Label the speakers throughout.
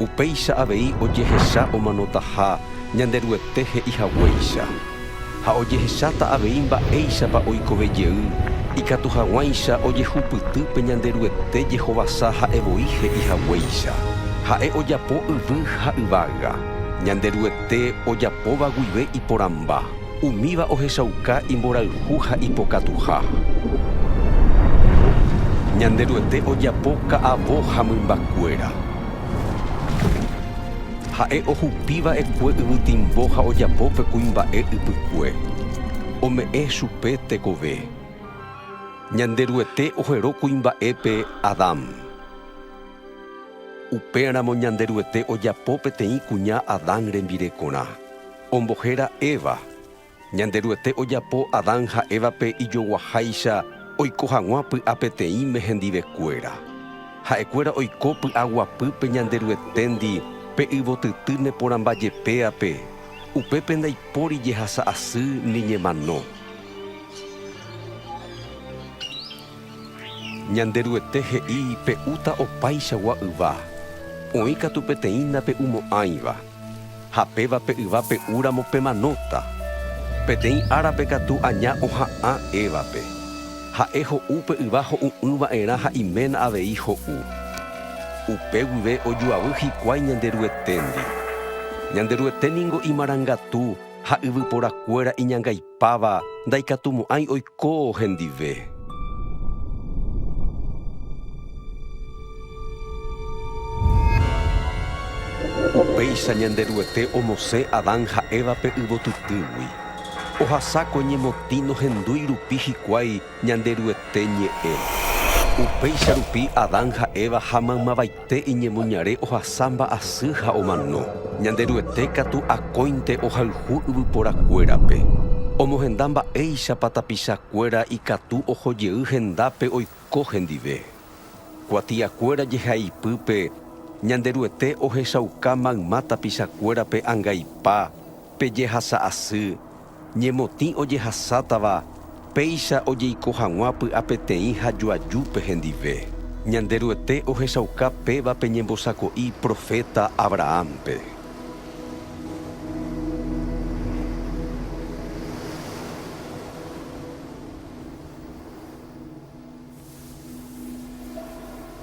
Speaker 1: Upéicha avei ojehecha omanotaha Ñanderuete he'i haguéicha. Ha ojehecháta avei mba'éichapa oikove jey, ikatu haguãicha ojehupyty pe Ñanderuete jehovasa ha'e voi he'i haguéicha. Ha'e ojapo yvy ha yvága, Ñanderuete ojapóva guive iporãmba. Umíva ohechauka imborayhu ha ipokatuha. Ñanderuete ojapo ka'avo ha mymbakuéra. Ha'e ohupi va'ekue yvytimbo ha ojapo pe kuimba'e ypykue, ome'ẽ chupe tekove. Ñanderuete ohero kuimba'épe Adán. Upéramo Ñanderuete ojapo peteĩ kuña Adán rembirekorã. Ombohéra Eva. Ñanderuete ojapo Adán ha Évape ijoguaháicha oiko hag̃ua py'a peteĩme hendivekuéra. Ha'ekuéra oiko py'a guapýpe Ñanderueténdi pe yvotyty neporãmbajepéape, upépe ndaipóri jehasa asy ni ñemano. Ñanderuete he'i pe'úta opaichagua yva, oĩ katu peteĩ nape'umo'ãiva. Ha péva pe yva pe'u ramo pemanóta. Peteĩ árape katu aña oha'ã Évape. Ha'e ho'u pe yva ho'u'ỹ va'erã ha iména avei ho'u. Upe guive ojuavy hikuái Ñanderueténdi. Ñanderuete ningo imarangatu ha yvypora kuéra iñangaite. Páva ndaikatumo'ãi oiko hendive. Upéicha Ñanderuete omosẽ Adán ha Évape yvotytýgui. Ohasákue ñemotĩ nohendúi rupi hikuái Ñanderuete ñe'ẽ. Upéicha rupi Adán ha Eva ha maymavaite iñemoñare ohasa mba'asy ha omano. Ñanderuete katu akóinte ohayhu yvyporakuérape. Omohenda mba'éichapa tapichakuéra ikatu oho jey hendápe oiko hendive. Kuatiakuéra jehaipype, Ñanderuete ohechauka mayma tapichakuérape angaipa pe jehasa asy, Ñemotĩ ojehasátava péicha ojeiko hag̃ua py'apeteĩ ha joajúpe hendive. Ñanderuete ohechauka péva pe ñembosako'i proféta Abrahánpe.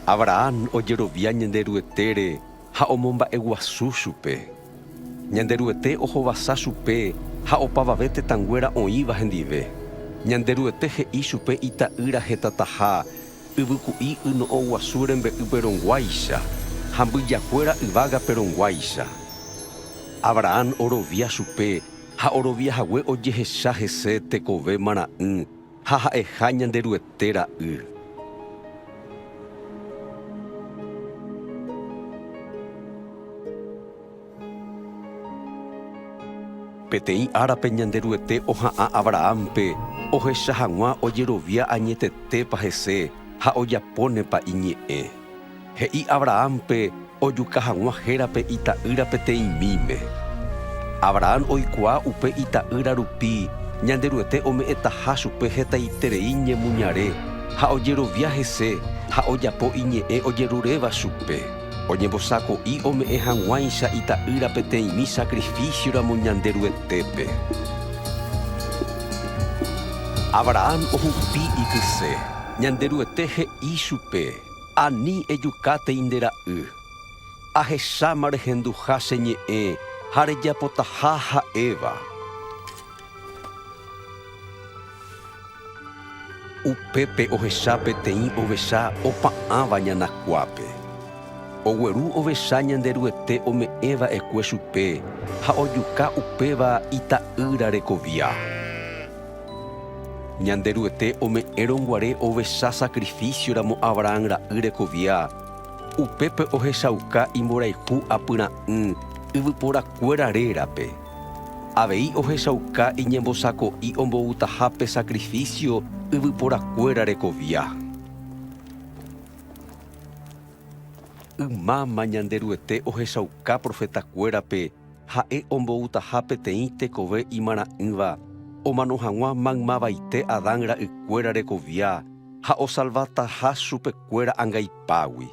Speaker 1: Abrahán ojerovia Ñanderuetére ha omomba'eguasu chupe. Ñanderuete ohovasa chupe ha opavave tetãnguéra oĩva hendive. Ñanderuete he'i chupe ita'ýra hetataha yvyku'i yno'õguasu rembe'ýpe rõguáicha ha mbyjakuéra yvágape rõguáicha. Abrahán orovia chupe ha oroviahague ojehecha hese tekove marã'ỹ. Ha ha'eha Ñanderuete ra'y. Peteĩ árape Ñanderuete oha'ã Abrahánpe ohecha hag̃ua ojerovia añetetépa hese ha ojapónepa iñe'ẽ. He'i Abrahánpe ojuka hag̃ua hérape ita'ýra peteĩ míme. Abrahán oikuaa upe ita'ýra rupi Ñanderuete ome'ẽtaha chupe hetaiterei ñemuñare ha ojerovia hese ha ojapo iñe'ẽ ojeruréva chupe. Oñembosako'i ome'ẽ hag̃uáicha ita'ýra peteĩmi sakrifísioramo Ñanderuetépe. Abrahán ohupi ikyse. Ñanderuete he'i chupe. Ani ejukátei nde ra'y. Ahecháma rehenduha che ñe'ẽ ha rejapotaha ha'éva. Upépe ohecha peteĩ ovecha opa'ãva ñanakuápe. Ogueru ovecha Ñanderuete ome'ẽ va'ekue chupe ha ojuka upéva ita'ýra rekovia. Ñanderuete ome'ẽrõ guare ovecha sakrifísioramo Abrahán ra'y rekovia, upépe ohechauka imborayhu apyra'ỹ yvyporakuéra rérape. Avei ohechauka iñembosako'i omboutaha pe sakrifísio yvyporakuéra rekovia. Ymáma Ñanderuete ohechauka profetakuérape Ha'e omboutaha peteĩ tekove imarã'ỹva omano hag̃ua maymavaite Adán ra'ykuéra rekovia ha osalvataha chupekuéra angaipágui.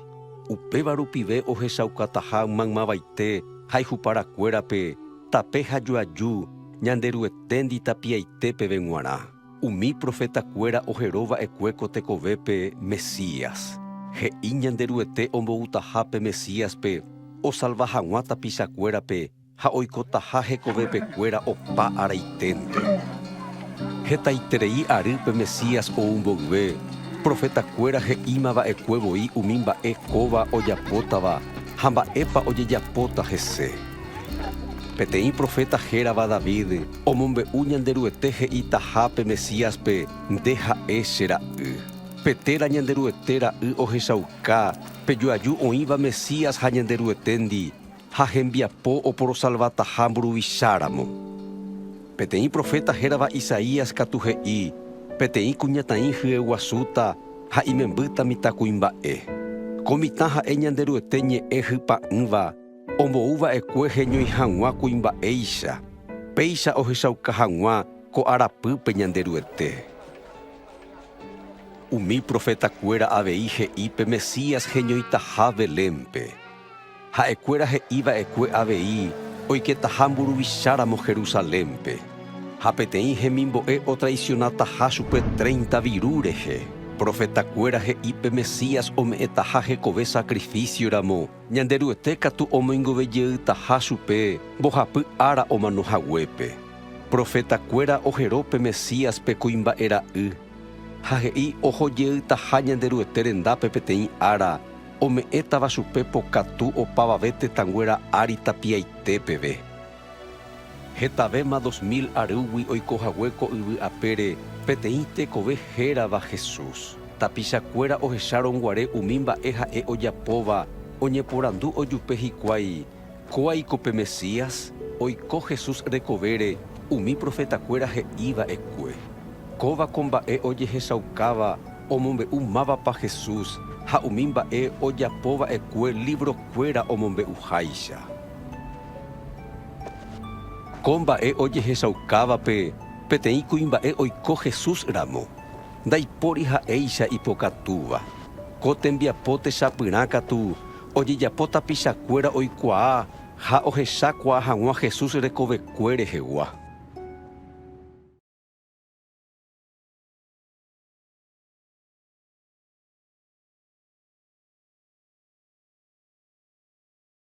Speaker 1: Upéva rupive ohechaukataha maymavaite ha ijuparakuérape tape ha joaju Ñanderueténdi tapiaite peve g̃uarã. Umi profetakuéra ohero va'ekue ko tekovépe Mesías. He'i Ñanderuete omboutaha pe Mesíaspe osalva hag̃ua tapichakuérape ha oikotaha hekovepekuéra opa araiténte. Hetaiterei ary pe Mesías ou mboyve, profetakuéra he'íma va'ekue voi umi mba'e kóva ojapótava ha mba'épa ojejapóta hese. Peteĩ proféta hérava David, Omombe'u Ñanderuete he'itaha pe Mesíaspe, Nde ha'e che Ra'y. Pe téra Ñanderuete Ra'y ohechauka pe joaju oĩva Mesías ha Ñanderueténdi ha hembiapo oporosalvataha mburuvicháramo. Peteĩ proféta hérava Isaías katu he'i, Peteĩ kuñataĩ hyeguasúta ha imembýta mitãkuimba'e. Ko mitã ha'e Ñanderuete ñe'ẽ hypa'ỹva, Ombou va'ekue heñói hag̃ua kuimba'éicha, péicha ohechauka hag̃ua ko arapýpe Ñanderuete. Umi profetakuéra avei he'i pe Mesías heñoitaha Belénpe. Ha'ekuéra he'i va'ekue avei oiketaha mburuvicháramo Jerusalénpe, ha peteĩ hemimbo'e otraisionataha chupe treinta viru rehe. Profetakuéra he'i pe Mesías ome'ẽtaha hekove sakrifísioramo. Ñanderuete katu omoingove jeytaha chupe mbohapy ára omano haguépe. Proféta kuéra ohero pe Mesías pe kuimba'e ra'y, ha he'i oho jeytaha Ñanderuete rendápe peteĩ ára ome'ẽtava chupe pokatu opavave tetãnguéra ári tapiaite peve. Hetavéma dos mil arýgui oiko hague ko yvy apére peteĩ tekove hérava Jesús. Tapichakuéra ohechárõguare umi mba'e ha'e ojapóva, oñeporandu ojupe hikuái, Kóaiko pe Mesías? Oiko Jesús rekovére umi profetakuéra he'i va'ekue. Kóva ko mba'e ojehechaukáva omombe'u mávapa Jesús ha umi mba'e ojapo va'ekue livrokuéra omombe'uháicha. Ko mba'e ojehechaukávape peteĩ kuimba'e oiko Jesús ramo, ndaipóri ha'éicha ipokatúva. Ko tembiapo techapyrã katu ojejapo tapichakuéra oikuaa ha ohechakuaa hag̃ua Jesús rekovekue rehegua.